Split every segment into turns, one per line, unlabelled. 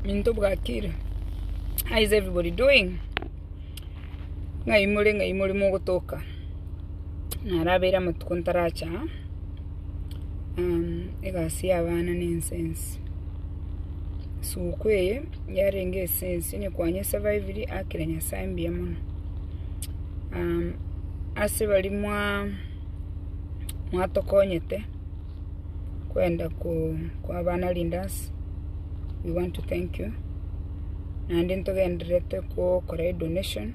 Minto bwakira. How is everybody doing? Ng'ai more, ng'ai more mogotoka. Narabeire amatuko ntaracha. Um, egasi y'abana ne incense. Suku eye yarenge esense ne kwanye surviviri akira nyasaye mbuya mono. Um, ase bari mwa mwatokonyete kwenda kwaba na leaders, we want to thank you, naende ntogendererete gokora edonation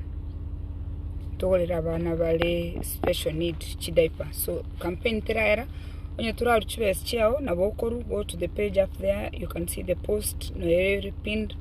togorere abana bare special need chi diaper, so campaign teraera onye torarusie chibesa chiao nabo okorwa go to the page up there you can see the post noyo ere pinned.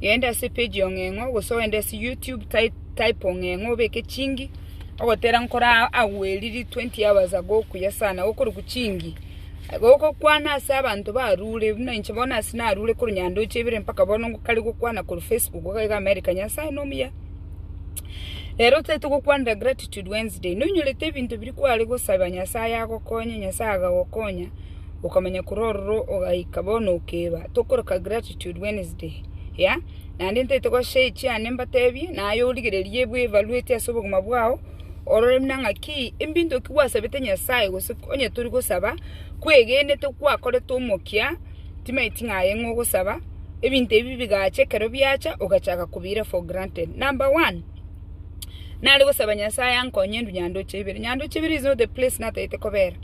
Genda ase page eye ng'eng'o gose ogende ase YouTube type type oo ng'eng'o obeke chingi ogotera nkore aa agwo eriri twenty hours ago okuya sana okorokwa chingi igo ogokwana ase abanto barure buna inche bono ase narure korwa nyandoche ibere mpaka bono ngokare gokwana korwa Facebook iga iga America Nyasaye nomuya. Rero otagete gokwanera Gratitude Wednesday nonyorete ebinto biria kware gosaba Nyasaye agokonye Nyasaye agagokonya. okamenya korwa ororo ogaika bono okeba, tokoroka gratitude Wednesday, ya? Naende ntaete goa share echi ande mbatebie, naye origererie bwe evaluate ase obogima bwao, orore buna ng'aki ebinto ki gwasabete Nyasaye gose onye tori gosaba, kwegenete gwakorete omokia, timaeti ng'a aye ng'o ogosaba, ebinto ebi bigacha ekero biacha ogachaka kobiira for granted. Number one, nare gosaba Nyasaye ankonye ndwe nyandoche ibere, nyandoche ibere is not the place nataete kobera.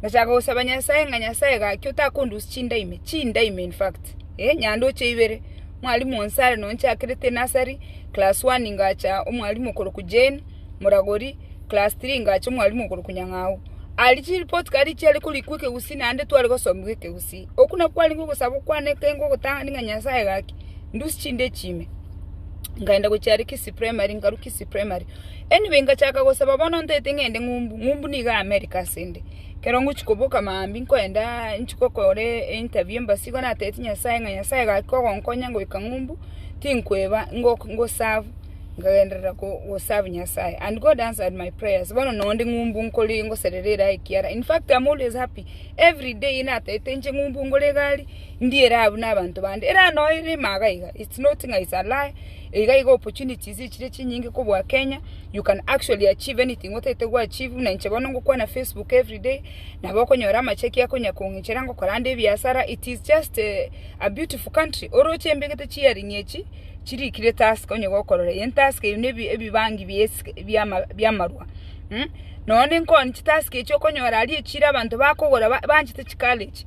Ngachaka gosaba Nyasae ng'a Nyasae gaki otakondusia chinda ime, chinda ime in fact, eh, nyandoche ibere. Mwalimu onsi are nonchakere te nursery, class one ngacha omwalimu okorokwa Jane, moragori, class three ngacha omwalimu okorokwa Nyang'au. Aria chireport card chiare korikwa ekegusii naende tware gosomigwa ekegusii. Okwo nakwo kwarenge ogosaba okwane ekengo ogotang'ani ng'a Nyasae gaki, ndusie chinda echi ime. nkaenda gochia aria Kisii primary nkarwa Kisii primary anyway nkachaka gosaba bono ntaete ng'ende ng'umbu, ng'umbu nigo aa America asende ekero ngochia koboka maambia nkoendaa nchie kokora interview embassy igo natebeti Nyasaye ng'a Nyasaye gaki kogonkonya ngoika ng'umbu tinkoeba ngok ngoserve nkagenderera ko goserve Nyasaye and God answered my prayers bono noo nde ng'umbu nkore ngoserera eraha ekiara in fact am always happy everyday natebete nche ng'umbu ngore egari. ndiire abwo nabanto bande, eraa noe rimaga iga it's not ng'a it's a lie, iga iga opportunities chire chinyinge kobua Kenya, you can actually achieve anything otagete go achieve, buna inche bono ngokwana Facebook everyday, nabo okonyora amachaki akonya kong'ichera ngokora ande ebiasara, it is just a beautiful country, oroche embe egete chi earring echi, chiri ikire task onye gokorora eye task eye ne ebibangi bia esike biama biamarwa mmh, noone nkoni chitask echi okonyora aria echiro abanto bakogora ba banchete chikara echi.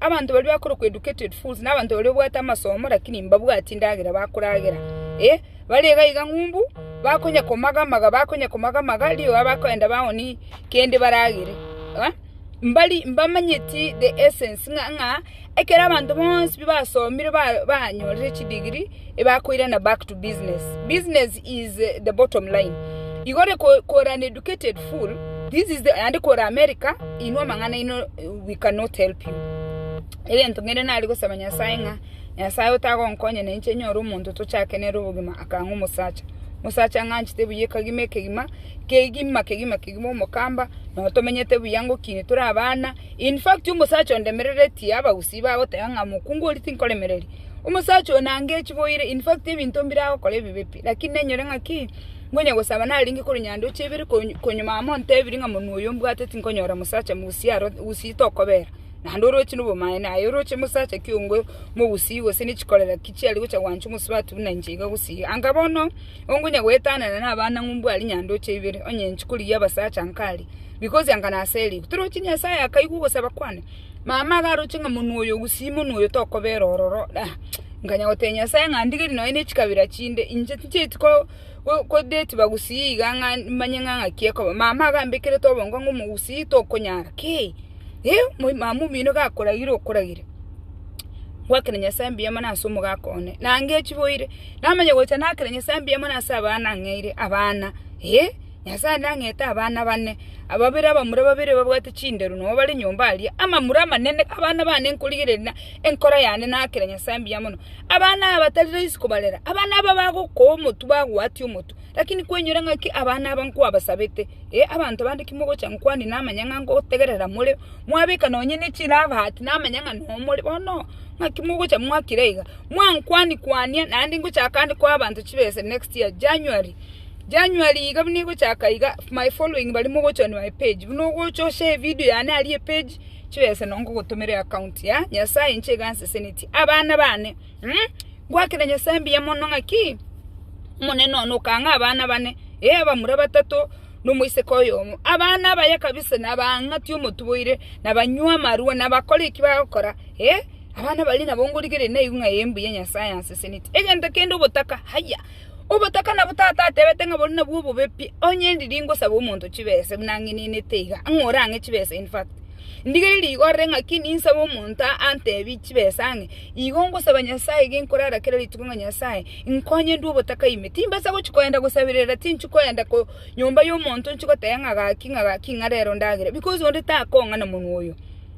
Abanto baria bakorokwa educated fools nabanto baria babwate amasomo lakini mbabwati endagera bakoragera eh bare iga iga ng'umbu bakonya komagamaga bakonya komagamaga rirorio abakoenda baoni kende baragere eh mbari mbamanyeti the essence ng'a ekero abanto bonsi basomire ba banyorire chidegree. ebakoirana back to business business is the bottom line igore ko kore an educated fool this is the and kore America inwe amang'ana ino we cannot help you egento ng'ende nari gosaba nyasaye ng'a nyasaye otagonkonya na inche nyore omonto tochake nere obogima akang'a omosacha mosacha ng'anchete buya ekagima ekegima kegima kegima kegima omokamba no tomenyete buya ngokini tore abana in fact omosacha ondemereretie abagusii bagoteba ng'a mokungu oria tinkoremereria. Omosacha oyo nange echiboire, in fact ebinto mbire agokora ebibe pi, lakini nenyore ng'a ki? Ngonya gosaba narenge korwa nyanda oche ibere konyu konyuma amo ontebiri ng'a monwe oyo mbwate tinkonyora mosacha mogusia aro gusii tokobera, naende oroche na obomaene aye oroche mosacha ki ongo mogusii gose ne chikorera ki chiare gocha gwancha omosubati buna inche iga gusii. Anga bono, ongonya goetanana na abana ng'u mbwari nyanda oche ibere, onye inchikorigia abasacha nkaria, because anga naserigwe. Torochi Nyasaye akaigwa ogosaba kwane. Mama agaroche ng'a monwe oyo gusii monwe oyo tokobera ororo. Nkanya gotebia Nyasae ng'a ndigerie nonye ne chikabira chinde, inche tinchieti ko ko detiba gusii iga ng'a manye ng'a ng'aki ekoba. Mama agambekerete obongo ng'a omogusii tokonyara ki? Eeh moi mama omino gakoragire okoragire. Ngwakere Nyasae mbuya mono ase omogaka one. Nange chiboire, namanya gocha nakera Nyasae mbuya mono ase abana ang'eire, abana eeh. Nyasae nang'ete abana bane, ababere abamura babere babwate chinderu nonya bare nyomba aria, amamura amanene, abana bane nkorigereria na enkoro yane naakere Nyasae mbuya mono. Abana aba tari rahisi kobarera, abana aba bagokoa omotwe bagwatia omotwe. Lakini kwainyora ng'aki abana aba nkwabasabete, ee abanto bande kimogocha nkwane namanya ng'a ngotegerera more, mwabeka nonya ne chirabaati namanya ng'a nonya more bono, ng'aki mogocha mwakira iga, mwankwania kwania naende ngochaka ande koa abanto chibesa next year January. January iga buna egochaka iga my following bari mogochwa on my page buna ogocha ose evideo yane aria epage chibese no ngogotomera eaccount ya nyasaye inche iga nsesenetie abana bane mh ngwakera nyasaye mbuya mono ng'aki omonene one okang'aa abana bane eh abamura batato na omoiseke oyomo abana abaye kabisa na bang'atie omotuboire na banywe amarwa na bakore eki bagokora eh abana baria nabo ngorigereria naigu ng'a eh mbuya nyasaye ansesenetie egento kende obotaka haya. Obotaka nabo Tata atebete ng'a boria nabwo obobe pi. Onye ndiri ngosabe omonto chibesa buna ang'enenete iga, ang'e ore ang'e chibesa in fact. Ndigeri rigo ore ng'aki ninsabe omonto antebi chibesa ang'e, igo ngosaba Nyasaye iga nkorara kera rituko ng'a Nyasaye, nkonye ndue obotaka ime. Timbasa gochia kogenda gosaberera, tinchi kogenda ko nyomba y'omonto nchi goteba ng'a gaki ng'a gaki ng'a rero ndagere, because onde takong'a na monwa oyo.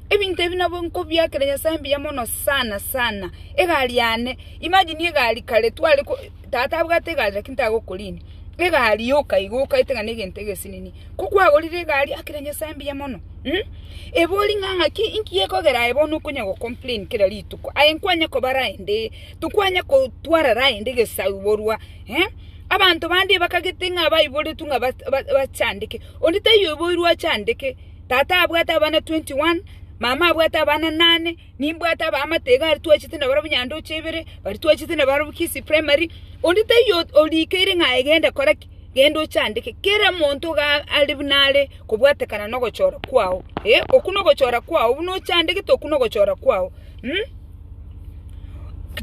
Ebinto ebi nabwo nkobiakera Nyasae mbuya mono sana sana. Egari yane, imagine egari kare tware ko, tata abwate egari lakini tagokorinia, egari yoka iga okaete ng'a negento egesinini. Ko kwagorire egari akira Nyasae mbuya mono mh, ebe ori ng'a ng'aki inki gekogera aye bono okonya go complain kera rituko, aye nkwanye koba rende, tokwanye kotwara rende gesaborwa eh, abanto bande bakagete ng'a baiboretwe ng'a ba ba bachandeke, onde taiyo oiboirwe achandeke. Tata abwate abana twenty one, mama abwate abana nane, nimbwate abaamate iga aria twachete nabarabwo Nyandoche ibere, baria twachete nabarabwo Kisii Primary, onde taiyo orikeire ng'a aye genda kora ki? Genda ochandeke. Kera monto iga are buna are kobwatekana na ogochora kwao. Eh, okwo na ogochora kwao, buna ochandegete okwo na ogochora kwao.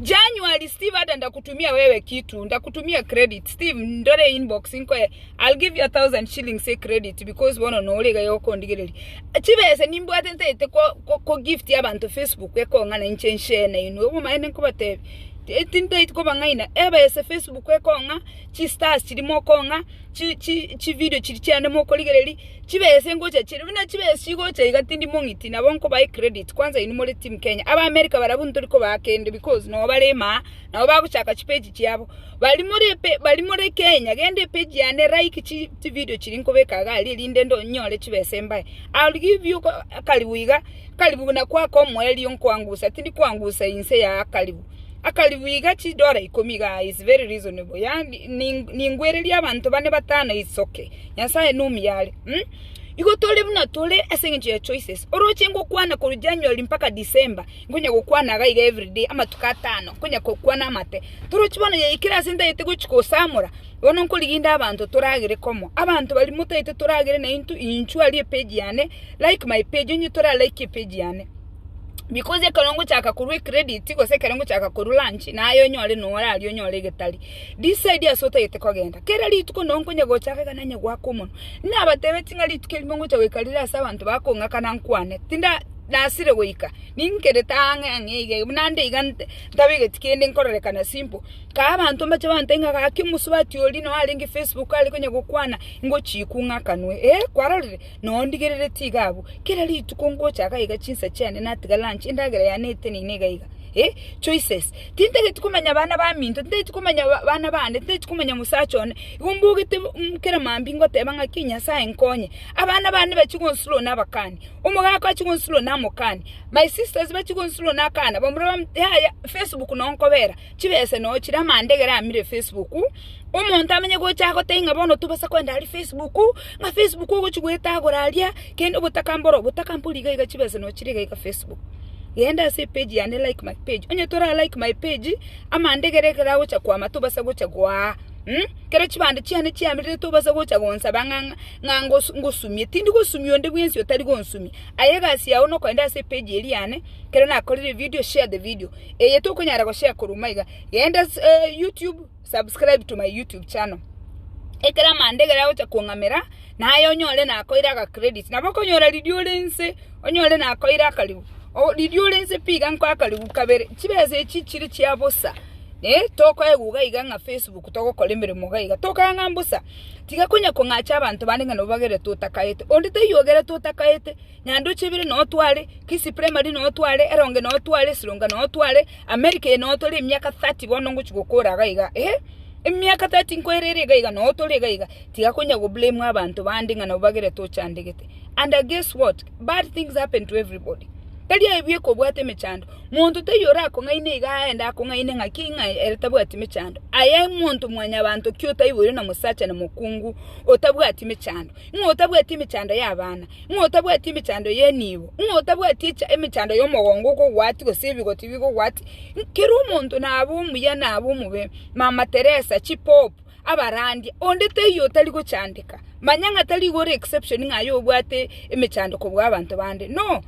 January, Steve ada ndakutumia wewe kitu, ndakutumia credit, Steve ndore inbox nkoye. I'll give you a thousand shillings say credit because bono nore iga yokondigereria. Chibese nimbwate ntaete ko gift abantu Facebook ekong'ana inche nshene inwe obomaene nkobatebi tintaiti kobang'aina ebese Facebook ekong'a chi stars chiri mokong'a chi video chiri chiane mokorigereria chibese ngocha chire buna chibese chigocha iga tindi mong'iti nabo nkobae credit kwanza inwe more team Kenya aba America barabwo ntori kobaa kende because nobare maa nabo bagochaka chipage chiabo. Bari more epe bari more Kenya gende epage yane like chi chi video chiri nkobeka iga aria erinde ndo nyore chibesa embae I'll give you akaribu iga akaribu na kwaka omoerio nkwangusa tindi kwangusa inse ya akaribu akaribu iga chidora ikomi iga is very reasonable ya ningwereria abanto bane batano it's okay Nyasaye nomuyia are mm igo tore buna tore ase engencho ya choices oroche ngokwana korwa January mpaka December. Nkonya gokwana iga iga every day, amatuko atano, nkonya gokwana amate. Torochi bono yaikire ase ntagete gochia gosamora, bono nkorigia inde abanto toragere komo. Abanto baria motagete toragere na intwe, inchwe aria epage yane, like my page, onye tora like epage yane. Because ekero ngochaka korwa ecredit, gose ekero ngochaka korwa lunch, naye onyore na ore aria onyore egetari. Decide ase otagete kogenda. Kera rituko noo nkonya gochaka iga nanye goaka omonwa. Nabatebe ng'a rituko erimo ngocha goika riria ase abanto bakong'akana nkwane, tinda. ndasire goika, ninkerete ang'e ang'e iga iga, buna nde iga ntabegeti kende nkorerekana simple, kaa abanto mbache bantebi ng'a gaki omosubati oria noo arenge facebook are konya gokwana ngochikwa ng'akanwe eh kwarorire? Noo ndigerereti iga abwo, kera rituko ngocha iga iga chinsa chiane natiga lunch endagera yane etenine iga iga eh choices, tintageti komanya bana baminto, tintageti komanya bana bande, tintageti komanya mosacha one, igo mbogete kera mambia ngoteba ng'aki Nyasaye nkonye. Abana bane bachie gonsurwa nabakani, omogaka achie gonsurwa namokani, my sisters bachie gonsurwa nakana, bamura bam yaya Facebook no nkobera chibese no chire amandegere amire Facebook, omonto amenye gocha gotebia ng'a bono tobasa kogenda aria Facebook, ng'a Facebook ogochi goetagora aria, kende obotaka mboro obotaka mbori iga iga chibese no chire iga iga Facebook. Genda ase epage yane like my page, onye tora like my page, amandegere ekero agocha kwama tobasa gocha goaa kero chibando chiane chiamerire tobasa gocha gonsaba ng'a. ng'a ngosumie, tindi gosumia onde bwensi otari gonsumia. Aye egasi yao nokogenda ase epage eri yane, ekero nakorire evideo, share the video. Eye tokonyara goshare korwa omanywa iga, genda YouTube, subscribe to my YouTube channel. Ekero amanda ekero agocha kong'amera, naye onyore nakoire aga credit. Nabo okonyora riria ore nse, onyore nakoire akaribu, riria ore nse pi iga nkoe akaribu kabere. Chibesa echi chire chia bosa, tokoegwa iga ng'a Facebook togokora emeremo iga iga, tokae ng'a mbosa. Tiga konya kong'acha abanto bande ng'a nabo bagerete otakaete. Onde taiyo ogerete otakaete, Nyandoche ebere noo tware, Kisii Primary noo tware, Eronge noo tware, Esilonga noo tware, America eye noo tore emiaka 30 bono ngochi gokora iga iga eh, emiaka 30 nkoera ere iga iga noo tore iga iga. Tiga konya go blame abanto bande ng'a nabo bagerete ochandegete. And guess what? Bad things happen to everybody. Tari aye bweka obwate emechando. Monto taiyo orakong'aine iga aende akong'aine ng'aki ng'a ere tabwati mechando. Aye monto mwanyabanto ki otaiboirwe na mosacha na mokungu otabwati mechando, ng'a otabwati emechando y'abana, ng'a otabwati emechando y'enibo, ng'a otabwati echa- emechando y'omogongo okogwati gose ebigoti bigogwati, kera omonto nabe omuya nabe omobe, Mama Teresa, chipopu. abarandie, onde teiyo otari gochandeka, manya ng'a tari igo ore exception ng'a aye obwate emechando kobua abanto bande, no,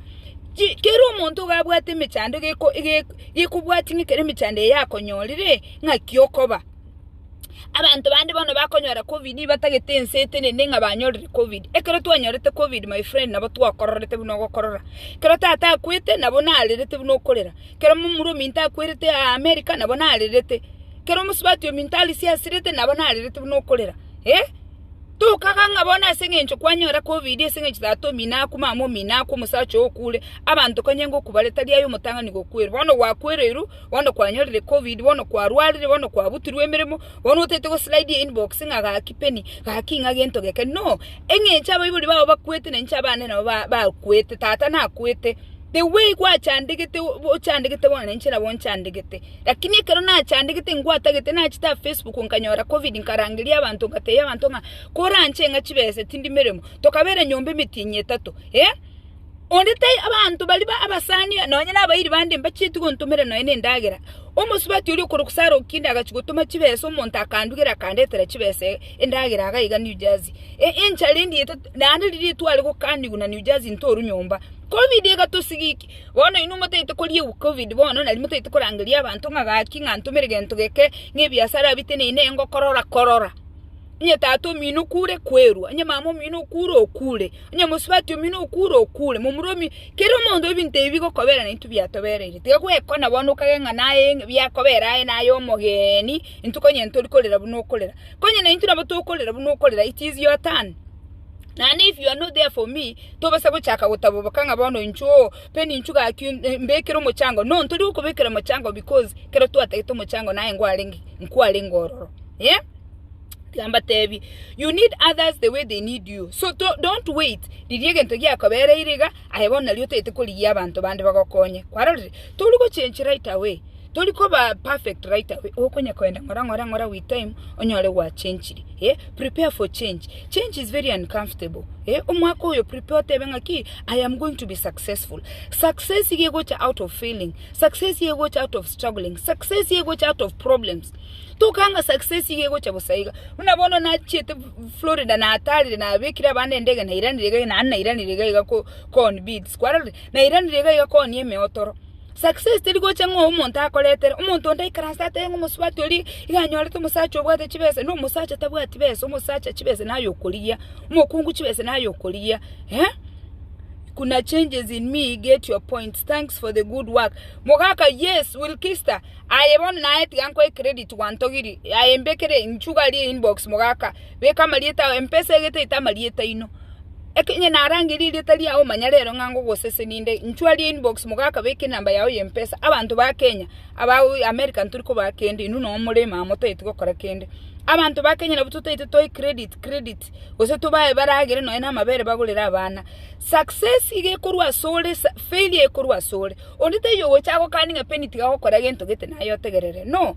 chi kera omonto iga abwate emechando egeko egeko gekobwatia ng'a ekero emechando eye yakonyorire ng'aki okoba. Abanto bande bono bakonyora covid batagete ense etenene ng'a banyorire covid, ekero twanyorete covid my friend nabo twakororete buna ogokorora, ekero tata akwete nabo narerete buna okorera, ekero momura ominto akwerete aa america nabo narerete. Ekero omosubati ominto arisia asirete, nabo narerete buna okorera. Ee, tokaga ng'a bono ase engencho kwanyora Covid, ase engencho tata omino aku, mama omino aku, omosacha oo okure, abanto konya ingo okobare tari aye omotang'ani gokwerwa. Bono gwakwereirwe, bono kwanyorire Covid, bono kwarwarire, bono kwabutirwe emeremo, bono otaete goslide einbox ng'a gaki Penny, gaki ng'a gento geke. No! Engencho abaibori bao bakwete na inche abande nabo ba bakwete, tata nakwete. The way gwachandegete ochandegete bono na inche nabo nchandegete. Lakini ekero nachandegete ngwatagete nachete a Facebook nkanyora covid nkarangeria abanto ngatebia abanto ng'a koranche ng'a chibesa tindi meremo tokabera nyomba emetienyi etato eh onde tai abanto bari ba abasani nonye nabairi bande mbachieti gontomera nonye na endagera omosubati oria okorokwa Sarah Okinde agachia gotoma chibesa omonto akandugera akandetera chibesa endagera iga iga New Jersey enchara endiete naende riria tware gokanigwa na New Jersey ntoru nyomba covid egatosigiki. Bono inwe motaete koriegwa covid bono, na riria motaete korangeria abanto ng'a gaki ng'a ntomere gento geke, ng'a ebiasara biteneine iga ngokorora, korora. Onye tata omino okure, kwerwa, onye mama omino okure, okure, onye mosubati omino okure, okure, momura omi, kera omonto ebinto ebi bikoberana naintwe biatobereire. Tiga gwekwana bono okagera ng'a naye biakobera aye naye omogeni, intwe konya ntori korera buna okorera. Konya naintwe nabo tokorera buna okorera, it is your turn, naende if you are not there for me. Tobasa gochaka gotaboboka ng'a bono inchuo oo, pe ninchu gaki mbekere omochango. No, ntoria okobekera omochango because kero twatagete omochango naye nkwarenge, nkwarenge ororo. Eh? Tiga mbatebie, you need others the way they need you. So to- don't wait riria egento giakobereire iga, aye bono nario otagete korigia abanto bande bagokonye. Kwarorire? Tori gochenchi right away. Tori koba perfect right away, okonya koenda ng'ora ng'ora ng'ora with time onyore gwa changire. Eh, prepare for change. Change is very uncomfortable. Eh, omwaka oyo prepare otebe ng'a ki, I am going to be successful. Success iga egocha out of failing. Success iga egocha out of struggling. Success iga egocha out of problems. Tokanga ng'a success iga egocha bosa iga. Buna bono nachiete Florida natarire nabekire abande endege nairanire iga naende nairanire iga iga ko- kooni beads. Kwarorire? Nairanire iga iga kooni emeotoro. Success teri gocha ng'a omonto akoretere. Omonto onde aikaranse atebe ng'a omosubati oria iga anyorete omosacha obwate chibesa. Na omosacha tabwati besa, omosacha chibesa naye okorigia, omokungu chibesa naye okorigia. Eh? Kuna changes in me, get your points. Thanks for the good work. Mogaka, yes, Wilkista. Aye bono naye tiga nkoe credit gwantogirie. Aye mbekere nchugarie inbox mogaka. Beka amarieta ao empesa egeteete amarieta aino. Ekenye narangeirie erieta riao manya rero ng'a ngogosesenia inde nchwarie inbox mogaka beka enamba yao ya empesa abanto ba Kenya aba America ntori kobaa kende inwe noo more ime aa motageti gokora kende. Abanto ba Kenya nabo totagete tobae credit credit gose tobae baragere nonye na amabere bagorere abana. Success iga ekorwa ase ore failure ekorwa ase ore. Onde taiyo ogocha agokanie ng'a penny tiga gokora gento gete naye otegerere no.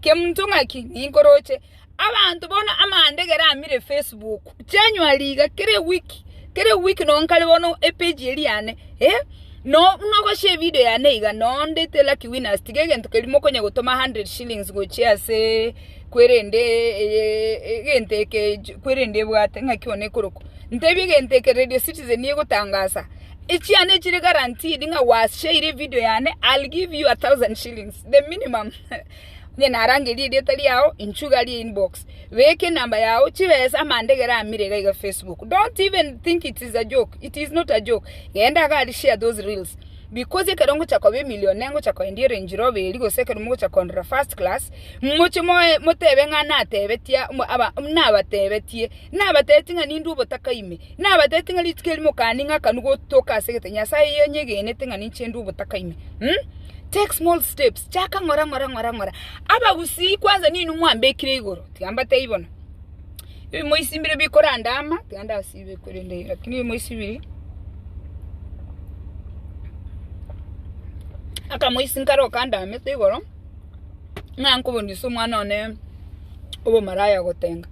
Kemonto ng'aki ninkoroche abanto bono amandegera amire Facebook chianywa riga kera ewiki kera ewiki nonye kare bono epage eri yane eh noo buna ogoshare evideo yane iga noo ndete lucky winners tiga egento keria mokonya gotoma hundred shillings gochia asee kwerende egento eke kwerende ebwate ng'aki one ekorokwa ntebia egento eke Radio Citizen egotangasa echiane chire guaranteed ng'a gwashaire evideo yane I'll give you a thousand shillings the minimum. Onye narangerie erieta riao inchuo iga rie inbox beka enamba yao chibesa amandegera amire iga iga Facebook don't even think it is a joke it is not a joke genda iga aria share those reels because ekero ngocha koba emillionaire ngocha koendia erange rover eria gose ekero mogocha korora first class moche moe motebe ng'a natebetia aba nabatebetie nabatebetie ng'a nindwe obotaka ime. Nabatebete ng'a rituko eri mokani ng'akanu gotoka ase egete Nyasaye oyo onyegenete ng'a ninche inde obotaka ime. Take small steps, chaka ng'ora ng'ora ng'ora ng'ora. Abagusii kwanza ninwe mwambekire igoro, tiga mbatebie bono. Ebi moisimbire bikorandama, tiga ndasibe korende lakini ebi moisibiri. Aka moisinkare okandamete igoro. ng'a nkoboni ase omwana one obomaraya gotenga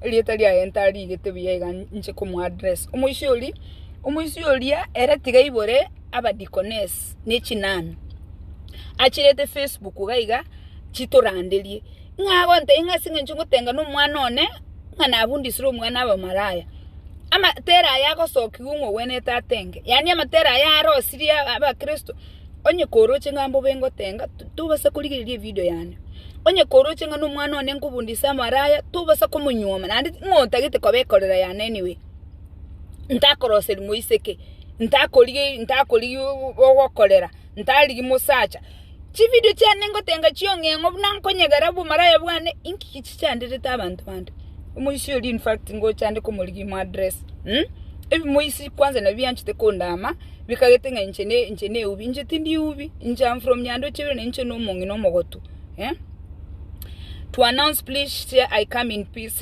erieta riaye ntarigete buya iga nche komo address. Omoisia oria, omoisia oria ere tiga aibore aba deaconess ne chinami achirete facebook iga iga chitoranderie ng'a agontebia ng'a ase eng'encho ngotenga na omwana one ng'a nafundisire omwana abe omaraya, amatera aye agosokiwa ng'a ogwenerete atenge, yaani amatera aye arosirie abakristo. Onye koroche ng'a mbobe ngotenga, to- tobasa korigereria evidio yane. Onye koroche ng'a na omwana one nkobundia ase amaraya, tobasa komonyuoma naende ti- ng'a otagete koba ekorera yane anyway. Ntakoroseri moiseke, ntakorigeri ntakorigia o- o- ogokorera, ntarigi mosacha. Chividio chiane ngotenga chiong'eng'o buna nkonyegera obomaraya bwane, inki ki chichanderete abanto bande? Omoisia oria infact ngocha ande komorigia moaddress, ebimoisi kwanza nabio anchete kondama. Bikagete ng'a inche ne inche neubi, inche tindi eubi, inche am from Nyandoche bire na inche no omong'ina omogotu eh? To announce please share I come in peace.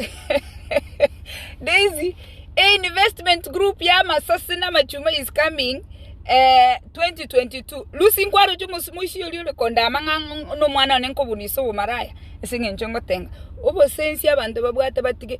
Daisy, a investment group ya masasi na machuma is coming eh, 2022 lusi nkwaroche omosimo isi ori ore kondama ng'a no mwana one nkobunisa obomaraya ase ng'encho ngotenga obosensi abanto babwate batige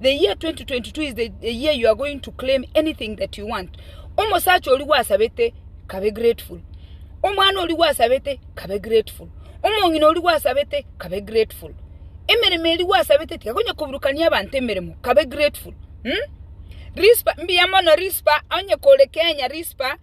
The year 2022 is the, the year you are going to claim anything that you want. Omosacha ori gwasabete kabe grateful. Omwana ori gwasabete kabe grateful. Omong'ina ori gwasabete kabe grateful. Emeremo eri gwasabete tigakonya koburukania abanto emeremo kabe grateful. Hmm? Rispa mbiya mono Rispa onye kore Kenya Rispa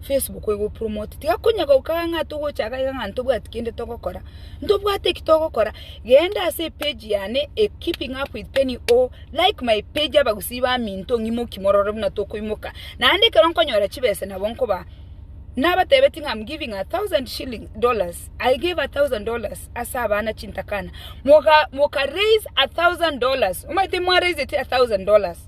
Facebook ego promote tiga konya goka ng'a ng'a togochaka iga ng'a ntobwati kende togokora ntobwate ki togokora genda ase page yane e keeping up with Penny or like my page abagusii baminto ng'imoki morore buna tokoimoka naende ekero nkonyora chibesa nabo nkoba nabatebetie ng'a I'm giving a thousand shilling dollars I gave a thousand dollars ase abana chintakana moga moka raise a thousand dollars omanyete mwa raiseti a thousand dollars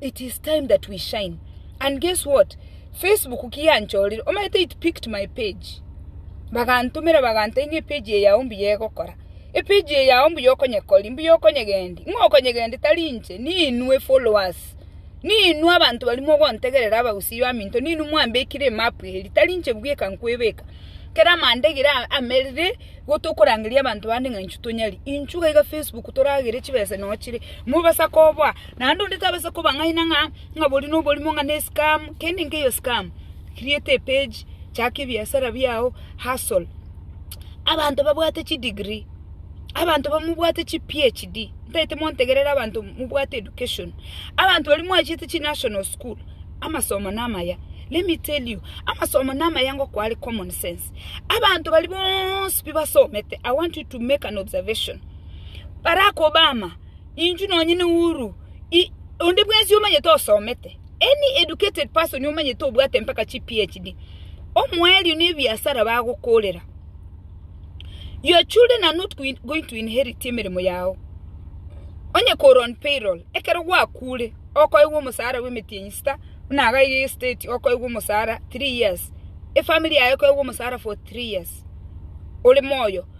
it is time that we shine and guess what Facebook ki yanchorire omanyete it picked my page bagantomera bagantebia ng'a epage eye yao mbuya egokora epage eye yao mbuya okonyekoria mbuya okonyegendia ng'a okonyegendia tari inche ninwe followers ninwe abanto baria mogontegerera abagusii baminto ninwe mwambekire emap eria tari inche bweka nkwebeka kera amanda egere amerire igo tokorangeria abanto bande ng'a inchuo tonyari inchuo iga Facebook toragere chibesa nochire mobasa koboa Naende onde tabasa kobang'aina ng'a boria noborimo ng'a nescam, kende nkeiyo scam, create a page, chaka ebiasara biao, hustle. Abanto babwate chidegree, abanto bamobwate chiphd, ntaete montegerere abanto mobwate education, abanto baria mwachete chinational school, amasomo namaya, let me tell you, amasomo namaya ngo kware common sense. Abanto baria bonsi pi basomete, I want you to make an observation, Barack Obama, Inchuo nonyene uru i, onde bwensi omanyete osomete, any educated person omanyete obwate mpaka chi PhD, omoerio na ebiasara bagokorera. Your children are not going going to inherit emeremo yao. Onye kore on payroll, ekero gwakure, okoegwa omosara bw'emetienyi sita, buna iga ya estate okoegwa omosara three years, efamiri yaye ekoegwa omosara for three years, ore moyo.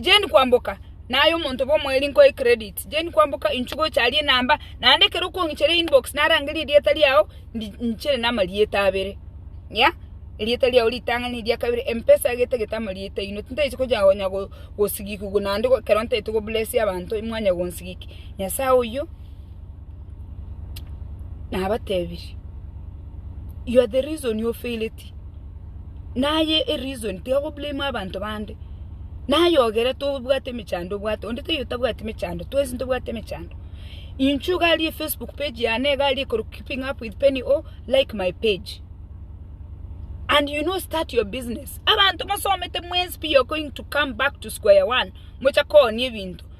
Jane kwamboka, naye omonto bw'omoerio nkoe credit. Jane kwamboka inchu gocha aria enamba, naende ekero okong'ichera inbox narangeria erieta riao, ndi nchire na amarieta abere, ya, erieta riao ritang'ani eria kabere, Mpesa iga etagete amarieta aino, tintagete gocha konya gosigikigwa naende ekero ntagete go bless abanto mwanya gonsigiki, Nyasae oyio nabatebirie, you are the reason ofaileti. naye ereason tiga go blame abanto bande, naye ogerete obwate emechando obwate, onde taiyo otabwati emechando, twensi ntobwate emechando. Inchuo iga aria efacebook page yane iga aria ekorokwa keeping up with Penny O, like my page and you know start your business. Abanto mosomete mwensi pi you are going to come back to square one moche koonia ebinto.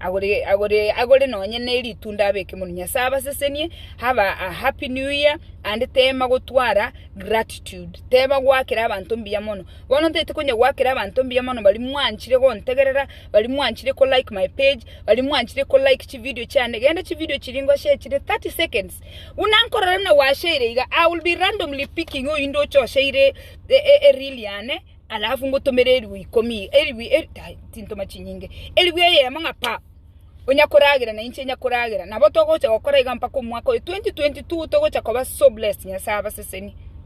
agore nonye ne ritunda abeke mono nyasaye abasesenie have a happy new year and tema gotwara gratitude tema gwakera abanto mbuya mono bono ntaete konya gwakera abanto mbuya mono baria mwanchire gontegerera baria mwanchire ko like my page baria mwanchire ko like chividio chiane gende chividio chiria ngoshe chire thirty seconds buna nkorora buna gwasheire iga I will be randomly picking oyio ndoche oseire ereel yane. alafu ngotomere erigwa ikomi iga erigwa eri tai tintoma chinyinge erigwa eyemo ng'a pa onya koragera na inche nyakoragera nabo togocha gokora iga mpaka omwaka oyo 2022 togocha koba so blessed Nyasae abasesenie.